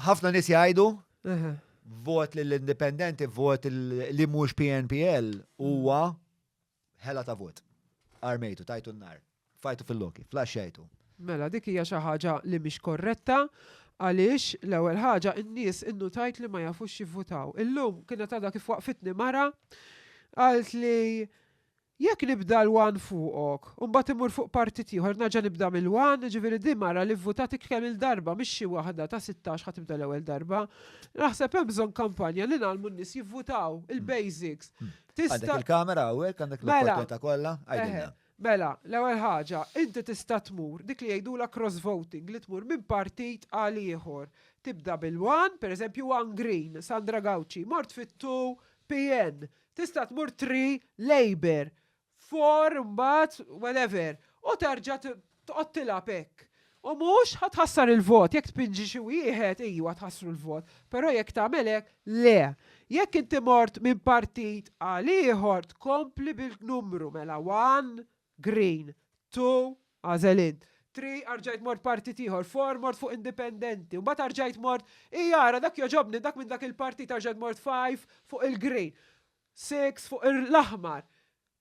Ħafna nies jgħidu vot lill-indipendenti, vot li mhux PNPL huwa ħela ta' vot. Armejtu, tajtu n-nar, fajtu fil-loki, flaxxejtu. Mela, dik hija xi ħaġa li mhix korretta għaliex l-ewwel ħaġa n-nies innutajt li ma jafux jivvutaw. Illum kienet għadha kif waqfitni mara għalt li Jekk nibda l-one fuqok, u mbagħad immur fuq partit ieħor nerġa' nibda mill-one, jiġifieri din mara li vvutatik kemm-il darba mhix xi waħda ta' sittax ħa tibda l-ewwel darba. Naħseb hemm bżonn kampanja li ngħallmu n-nies jivvutaw, il-basics. Tista'. Għandek il-kamera hawnhekk, għandek l-opportunità kollha, għidilna. Mela, l-ewwel ħaġa, inti tista' tmur, dik li jgħidulha cross voting, li tmur minn partit għal ieħor. Tibda bil-one, pereżempju one green, Sandra Gauci, mort fit-two PN, Tista' tmur tri labour, four mbagħad whatever u terġa' tqgħod tilgħab hekk. U mhux ħa tħassar il-vot, jekk tpinġi xi wieħed ijwa tħassru l-vot, però jekk tagħmel hekk le. Jekk inti mort minn partit għal ieħor tkompli bil-numru mela one, Green, two, għażel int. Three, arġajt mort partit ieħor. Four, mort fuq indipendenti. Mbagħad arġajt mort, ii ara dak jogħġobni, dak minn dak il-partit, arġajt mort five, fuq il-green. Six, fuq l-aħmar.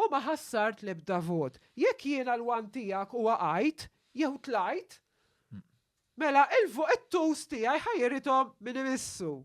U ma ħassart l-ebda vot. Jekk jiena l-one tiegħek u waqajt, jew tlajt, Mela il-fuq it-tools tiegħi ħa jirithom minn imissu.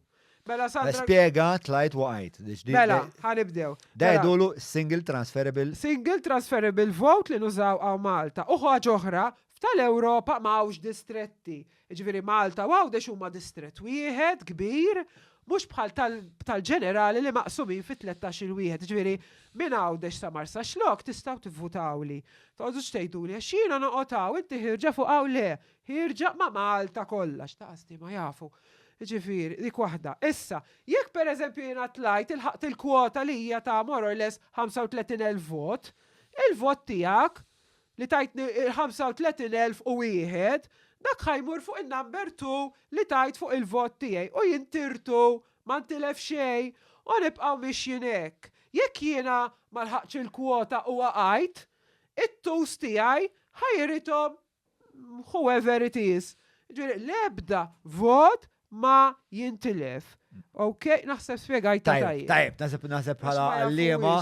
Mela Sandra. Nispjega, tlajt waqajt. Mela, ħa nibdew. Da jgħidulu single transferable. Single transferable vote li nużaw hawn Malta. U ħaġa oħra, f'tal-Ewropa ma hawnx distretti. Jiġifieri Malta u Għawdex huma distrett wieħed kbir, mhux bħal tal-ġenerali li maqsumin fi tlettax-il wieħed. Jiġifieri minn Għawdex sa Marsaxlokk tistgħu tivvutawli. Toqgħodux tgħiduli għax jiena noqgħod hawn inti ħierġa fuq hawn le. Ħierġa ma' Malta kollha, x'taqasdi ma jafu. Jiġifieri, dik waħda. Issa, jekk pereżempju jiena tlajt ilħaqt il-kwota li hija ta' more or less 35,000 vot, il-vot tiegħek li tajtni 35,001, dak ħa jmur fuq in-number two li tajt fuq il-vot tiegħi u jien tirtu, ma ntilef xejn u nibqgħu mixjin hekk. Jekk jiena ma lħaqtx il-kwota u waqajt, it-twos tiegħi ħa jirithom whoever it is. Ġifieri l-ebda vot ma jintilef. Ok, naħseb spjegajt tajjeb. Tajjeb, naħseb naħseb bħala għalliema,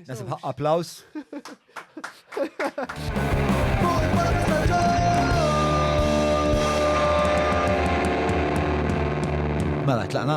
naħseb ħaqqa applaus. Mela, tlaqna.